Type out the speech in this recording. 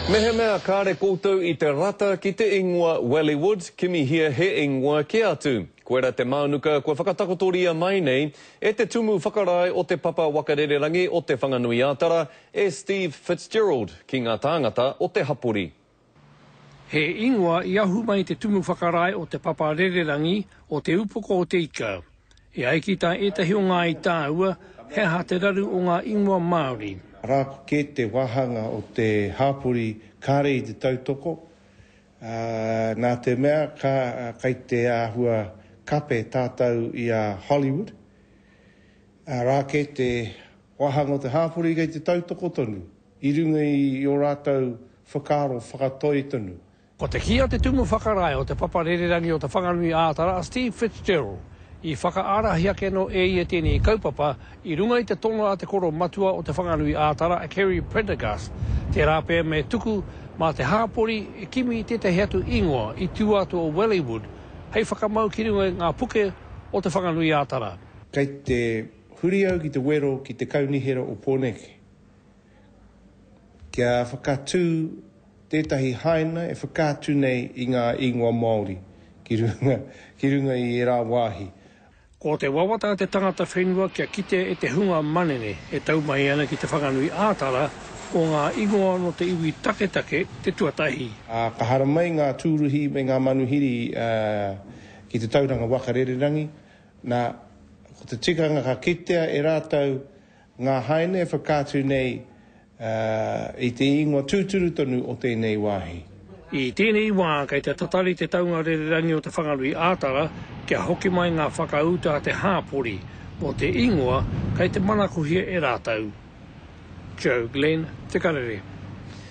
Mehemea kāre koutou i te rata ki te ingoa Wellywood, kimihia he ingoa kē atu. Koira te mānuka kua whakatakotoria mai nei e te Tumu Whakarae o Te Papa Waka Rererangi o Te Whanganui-ā-Tara, e Steve Fitzgerald, ki ngā tāngata o te hapori. He ingoa i ahu mai te tumu whakarae o Te Papa Rererangi o Te Upoko o Te Ika. E ai ki tā ētahi o ngā i tāua, he aha te raru o ngā ingoa Māori? Arā ko kē te wāhanga o te hāpori kāre i te tautoko, ā, nā te mea ka, kei te āhua kape tātou i a Hollywood, arā kē te wāhanga o te hāpori kei te tautoko tonu. I runga i ō rātou whakaaro whakatoi tonu. Ko te kī a te Tumu Whakarae o Te Papa Rererangi o Te Whanganui ā Tara, Steve Fitzgerald, i whakaarahi ake anō e ia tēnei kaupapa i runga i te tono a te koro matua o Te Whanganui ā Tara, a Kerry Prendergast, tērā pea me tuku mā te hāpori e kimi tētahi atu īngoa i tua atu o Wellywood hei whakamau ki runga i ngā puke o Te Whanganui ā Tara. Kei te huri au ki te wero ki te Kaunihera o Pōneke. kia whakatū tētahi haina e whakaatu nei i ngā ingoa Māori ki runga, ki runga i ērā wāhi. Ko te wawata a te tangata whenua kia kite e te hunga manene e tau mai ana ki Te Whanganui ā-Tara, ko ngā ingoa nō te iwi taketake te tuatahi. Ā, ka haramai ngā tūruhi me ngā manuhiri ki te tauranga waka rererangi, nā, ko te tikanga ka kitea e rātou, Ngā haina e whakaatu nei i te ingoa tūturu tonu o tēnei wāhi. I tēnei wā kei te tatari te taunga rererangi o Te Whanganui ā-Tara kia hoki mai ngā whakauta a te hāpori mō te ingoa kei te manakohia e rātou. Joe Glenn, Te Karere.